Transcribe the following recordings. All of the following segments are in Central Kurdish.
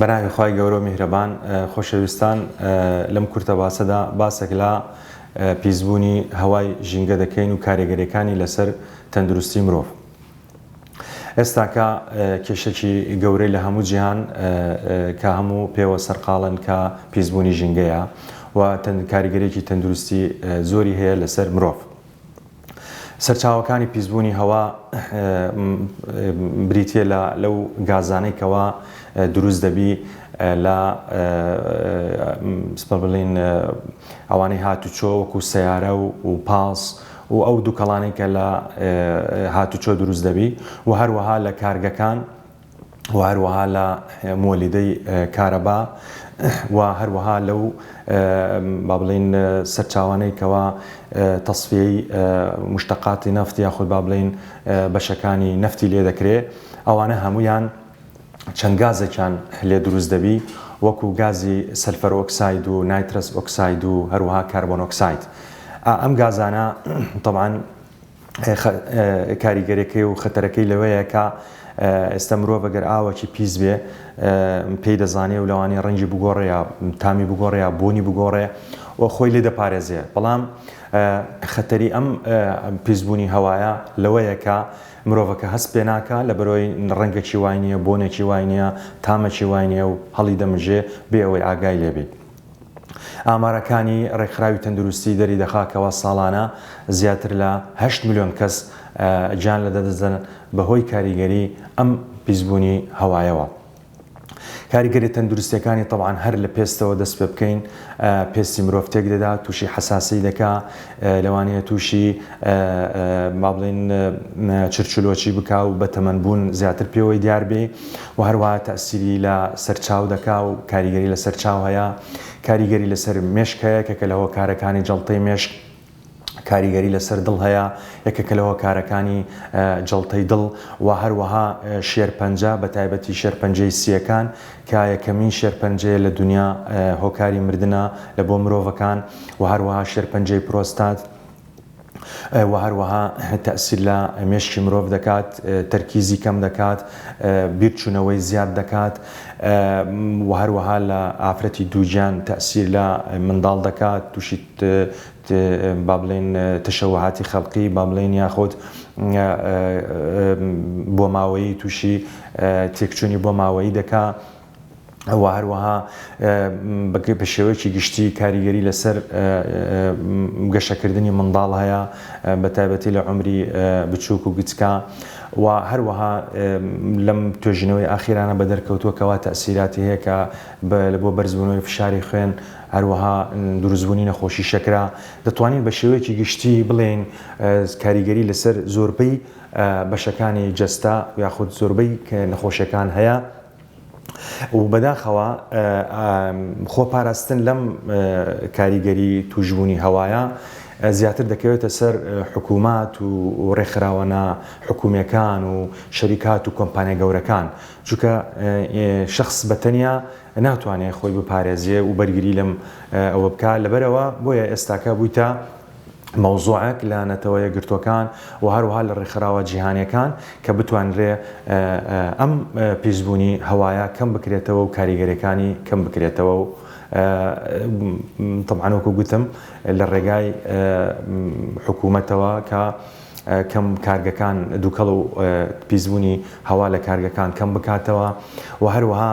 بەناوی خوای گەورە و میهرەبان. خۆشەویستان لەم کورتە باسەدا باسێک لە پیس بوونی هەوای ژینگە دەکەین و کارێگەریەکانی لەسەر تەندروستی مرۆڤ. ئێستاکە کێشەکی گەورەی لە هەموو جیهان کە هەموو پێوە سەرقاڵن کە پیس بوونی ژینگەیە و کاریگەریەکی تەندروستی زۆری هەیە لەسەر مرۆڤ. سەرچاوەکانی پیسبوونی هەوا بریتییە لە لەو گازانەی کەوا دروست دەبی لە سپە بڵین ئەوانەی هاتوچۆ وەکو سیارە و پاس و ئەو دووکەڵانەی کە لە هاتوچۆ دروست دەبی و هەروەها لە کارگەکان و هەروەها لە مۆلیدەی کارەبا و هەروەها لەو با بڵێین سەرچاوانەی کەوا تەسفیەی مشتەقاتی نەفت یاخود با بڵێین بەشەکانی نەفتی لێ دەکرێ ئەوانە هەمویان چەند گازێکیان لێ دروست دەبی وەکو گازی سەلفەر ئۆکساید و نایترەس ئۆکساید و هەروەها کاربۆنۆکساید ئا ئەم گازانە تەبعەن کاریگەرەکەی و خەتەرەکەی لەوەیە کە ئێستا مرۆڤ گەر ئاوەکی پیس بێ پێی دەزانێ و لەوانی ڕەنگی بگۆڕێ یا تامی بگۆڕێ یا بۆنی بگۆڕێ و خۆی لێ دەپارێزێ بەڵام خەتەری ئەم پیسبوونی هەوایە لەوەیە کە مرۆڤەکە هەست پێ ناکە لە بەرۆی ڕەنگەکی وای نییە بۆنێکی وای نییە تامەکی وای نیە و هەڵی دەمژێ بێ ئەوەی ئاگای لێبێ ئامارەکانی ڕێکخراوی تەندروستی دەریدەخا کەوا ساڵانە زیاتر لە هەشت ملیۆن کەس گیان لەدەدەدەن بەهۆی کاریگەری ئەم پیسبوونی هەوایەوە. کاریگەریە تەندروستیەکانی تەبعەن هەر لە پێستەوە دەست پێبکەین پێستی مرۆڤ تێکدەدا توشی حەساسی دەکا لەوانەیە تووشی با بڵێین چرچلۆچی بکا و بە تەمەن بوون زیاتر پێوەی دیار بێ و هەروەها تەئسیری لە سەر چاو دەکا و کاریگەری لە سەر چاو هەیە کاریگەری لە سەر مێشک هەیە کە کە لە هۆکارەکانی جەڵتەی مێشک کاریگەری لە سەر دڵ هەیە یەکە کە لە هۆکارەکانی جەڵتەی دڵ و هەروەها شێرپەنجە بە تایبەتی شێرپەنجەی سییەکان کە یەکەمین شێرپەنجەیە لە دونیا هۆکاری مردنە لە بۆ مرۆڤەکان و هەروەها شێرپەنجەی پرۆستات و هەروەها تەسیر لە مێشکی مرۆڤ دەکات تەرکیزی کەم دەکات بیرچوونەوەی زیاد دەکات و هەروەها لە ئافرەتی دووگیان تەسیر لە منداڵ دەکات تووشی با بڵێین تەشەوهاتی خەڵقی با بڵێین یاخود بۆماوەیی تووشی تێکچوونی بۆماوەیی دەکا و هەروەها بە شێوەیەکی گشتی کاریگەری لەسەر گەشەکردنی منداڵ هەیە بە تایبەتی لە عمری بچووک و گچکە و هەروەها لەم توێژینەوەی ئاخیرانە بە دەرکەوتووە کەوا تەسیراتی هەیە کە بۆ بەرزبوونەوەی فشاری خوێن هەروەها دروستبوونی نەخۆشی شەکرە دەتوانین بە شێوەیەکی گشتی بڵێین کاریگەری لەسەر زۆربەی بەشەکانی جەستە یاخود زۆربەی نەخۆشیەکان هەیە و بەداخەوە خۆپاراستن لەم کاریگەری توشبوونی هەوایە زیاتر دەکەوێتە سەر حکوومات و ڕێکخراوەە حکوومیەکان و شەریکات و کۆمپانیا گەورەکان چونکە شخص بەتەنیا ناتوانێ خۆی بپارێزێ و بەرگری لەم ئەوە بکا لەبەرەوە بۆیە ئێستاکە بوویتە مەوزوعەک لە نەتەوە یەکگرتووەکان و هەروها لە ڕێکخراوە جیهانیەکان کە بتوانرێ ئەم پیسبوونی هەوایە کەم بکرێتەوە و کاریگەریەکانی کەم بکرێتەوە و تەبعەن وەکو گوتم لە ڕێگای حکوومەتەوە کە کەم کارگەکان دووکەڵ و پیسبوونی هەوا لە کارگەکان کەم بکاتەوە و هەروەها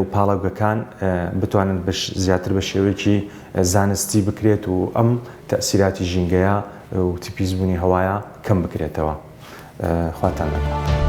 و پاڵاوگەکان بتوانن زیاتر بە شێوەیەکی زانستی بکرێت و ئەم تەئسیراتی ژینگەیە و تپیزبوونی هەوایە کەم بکرێتەوە. خواتان لەگەڵ.